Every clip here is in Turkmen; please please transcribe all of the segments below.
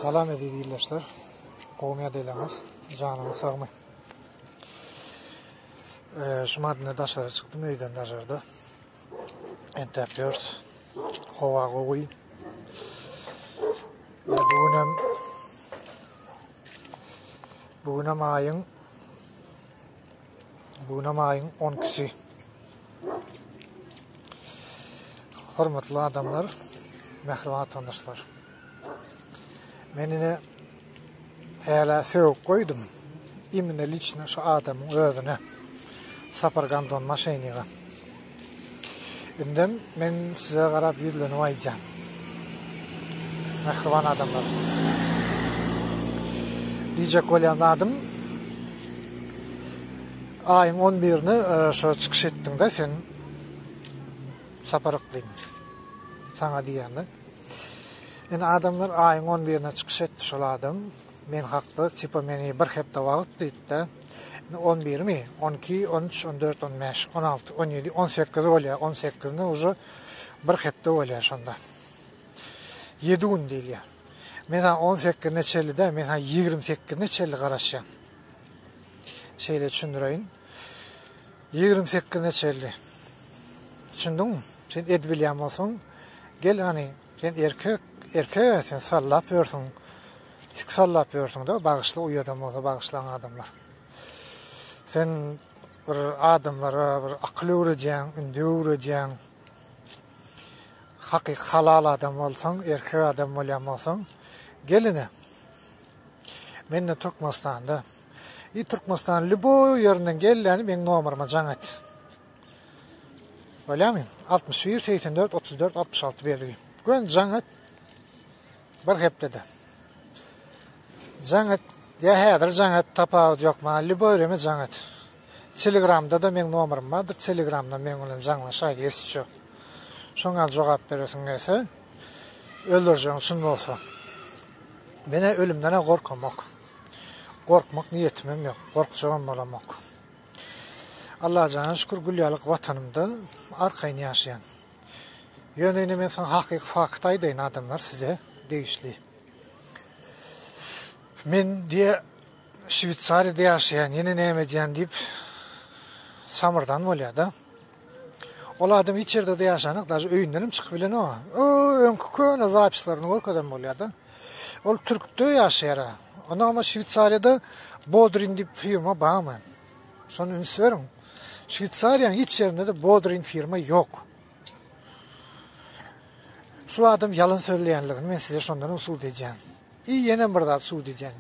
Salam eziz ildeşler. Gowmy ýadaýlaryňyz? Janyňyz sagmy? Eee, şu madynda daşary çykdym öýden daşarda. Entäp ýörs. Howa gowy. Bu gün hem Bu gün hem aýyň Bugüne maýyň on ikisi. Hormatly adamlar, mähriban watandaşlar. Men ine häle sögüp goýdum. Imine liçne şu adamyň özüne. Sapar Gandon Maşeniga. Indem men size garap ýüzlenip aýdýan. Mähriban adamlar. Diýjek bolýan zadym aýyň 11-ni e, şo çykyş etdiňde sen sapar yklymy. Saňa diýende. Indi adamlar aýyň 11-ne çykyş etdi şol adam. Men hakda tipa meni bir hepde wagt diýdi. On birmi, on iki, on üç, on dört, on bäş, on alty, on ýedi, on sekiz bolýar. On sekizine uje bir hepde bolýar şonda. Ýedi gün diýilýär. Men ha on sekizine çenli däl, men ha ýigrimi sekizine çenli garaşýan. Şeýle düşündireýin. Ýigrimi sekizine çenli. Düşündiňmi? Sen edip bilýän bolsaň, gel hany Sen erkek erkege sen sallap ýörsüň tik sallap ýörsüňde bagyşla uýadam bolsa bagyşlaň adamlar sen bir adamlara bir akyl öwredýäň indi öwredýäň hakyky halal adam bolsaň, erkek adam bolýan bolsaň, geline. Men de Türkmenistanda. I Türkmenistan lüboý ýerinden gelýän meň nomeryma jaň et. Bolýamy? 61 84 34 66 belgi. Gün jaň et. Bir hepdede. Jaň et. Ya häzir jaň et tapawut ýok ma. Liboýreme jaň et. Telegramda da meň nomerym bardyr. Telegramda meň bilen jaňlaşaý geçişe. Şoňa jogap beresiň gelse. Öldürjeň şun bolsa. Mene ölümden gorkamok. Gorkmak niýetimem ýok. Gorkjagam bolamok. Allaha jana şükür gül ýalyk watanymda arkaýyn ýaşaýan. Ýöne ine men saňa hakyky fakt aýdaýyn adamlar size degişli. Men diýe Şweýsariýada ýaşaýan, ýene näme edýän diýip samyrdan bolýar-da. Ol adam hiç ýerde-de ýaşanok, daşy öýünden hem çykyp bilenok. O, öňki köne zapislaryny görkezem bolýar-da. Ol türkde ýaşaýar. Onda ama Şweýsariýada Bodrin diýip firma barmy? Şony üns beriň. Şweýsariýanyň hiç ýerinde de Bodrin firma ýok. Şu adam ýalan sözleýänligini men size şondan usul edýän. I ýene bir zat usul edýän.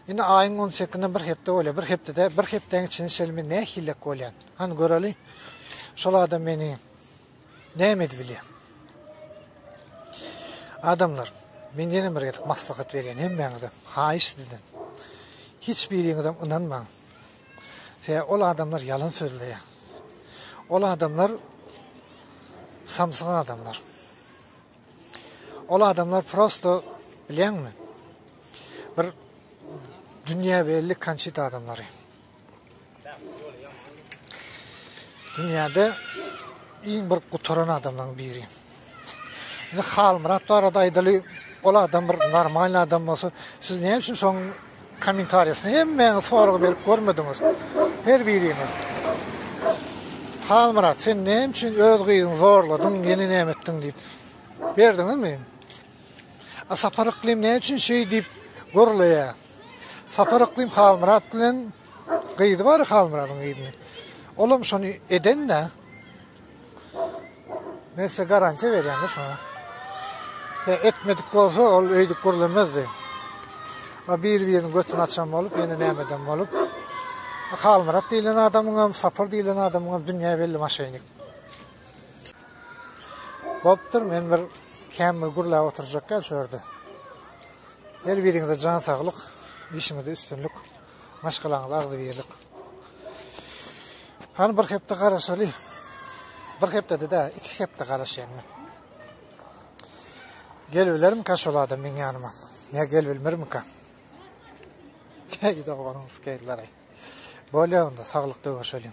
Indi aýyň 18-nde bir hepde bolýar. Bir hepdede, bir hepdäň içinde şelmi nähillik bolýar. Han göreli. Şol adam meni Näme edip bilýär? Adamlar, men ýene bir gezek maslahat berýän hemmäňize, haýyş sizden. Hiç biriňizem ynanmaň. Se, ol adamlar ýalan sözleýär. Ol adamlar samsyk adamlar. Ol adamlar prosto bilýäňmi? Bir dünýä belli konçit adamlary. Dünýäde iň bir gutaran adamlaryň biri. Indi Halmyrat barada aýdaly, ol adam bir normal adam bolsa, siz näme üçin şoň kommentariýasyny hemmäňiz sorag berip görmediňiz? Her biriňiz. Halmyrat, sen näme üçin öz gyzyňy zorladyň, ýene näme etdiň diýip. Berdiňizmi? A Sapar Yklim näme üçin şeý diýip gurlaýar? Sapar Yklym Halmyrat bilen gyzy bar Halmyradyň gyzyny. Olam şony eden-de. Men size garantiýa berýän-de şoňa. He, etmedik bolsa, ol öýdüp gurlemezdi. A bir-biriniň götüni açan bolup, ýene nämeden bolup. Halmyrat diýlen adamyň hem, Sapar diýlen adamyň hem dünýä belli maşyny. Bopdur, men bir käm bir gurläp oturjak gel şu ýerde. Her biriňize jan saglyk, işiňizde üstünlik, maşgalaňyza agzybirlik. Hany bir hepde garaşaly. Bir hepde de iki hepde garaşaýyn men. Gel bilerim ka şol adam meň ýanyma. Ne gel bilmerim ka. Teýi doganyň skeýlere. Bolýa onda saglyk döwüşelim.